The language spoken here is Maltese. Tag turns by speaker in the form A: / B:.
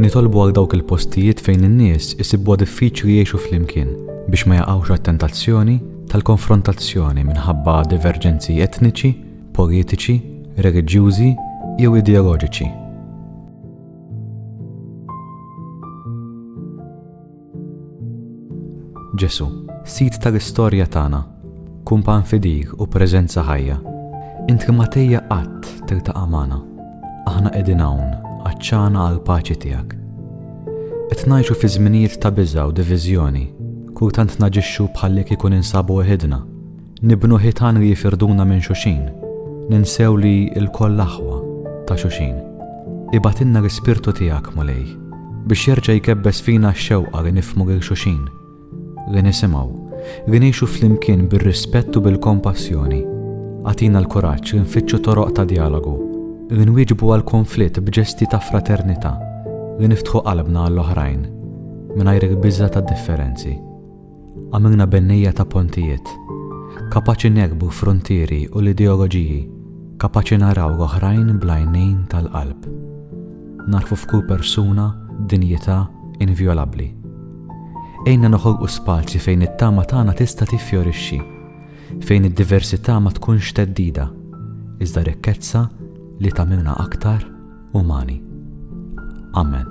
A: Nitolbu għal dawk il-postijiet fejn in-nies isibwa diffiċli jgħixu flimkien biex ma jaqgħux għat-tentazzjoni tal-konfrontazzjoni minħabba diverġenzi etniċi, politiċi, reliġjużi jew ideoloġiċi. Ġesù, Sid tal-istorja tagħna, Kumpann fidil u preżenza ħajja, Int li ma tejja qatt tiltaqa' magħna, Aħna qegħdin hawn, għatxana għall-paċi tiegħek. Qed ngħixu fi żminijiet ta' biża' u diviżjoni, Kultant naġixxu bħallikieku ninsabu weħidna, Nibnu ħitan li jifirduna minn xulxin, ninsew li lkoll aħwa ta' xulxin. Ibagħtilna l-Ispirtu tiegħek, Mulej, biex jerġa' jkebbes fina x-xewqa li nifhmu lil xulxin, li nisimgħu, li ngħixu flimkien bir-rispett u bil-kompassjoni. Agħtina l-kuraġġ li nfittxu toroq ta' djalogu, li nwieġbu għal kunflitt b'ġesti ta' fraternità, li niftħu qalbna għall-oħrajn, mingħajr il-biża' tad-differenzi. Għamilna bennejja ta' pontijiet, kapaċi negħbu fruntieri u l-ideoloġiji, kapaċi naraw l-oħrajn bl-għajnejn tal-qalb. Nagħrfu f'kull persuna dinjità invjolabbli. Għinna noħolqu spazji fejn it-tama tagħna tista' tiffjorixxi, fejn id-diversità ma tkunx theddida, iżda rikkezza li tagħmilna aktar umani. Amen.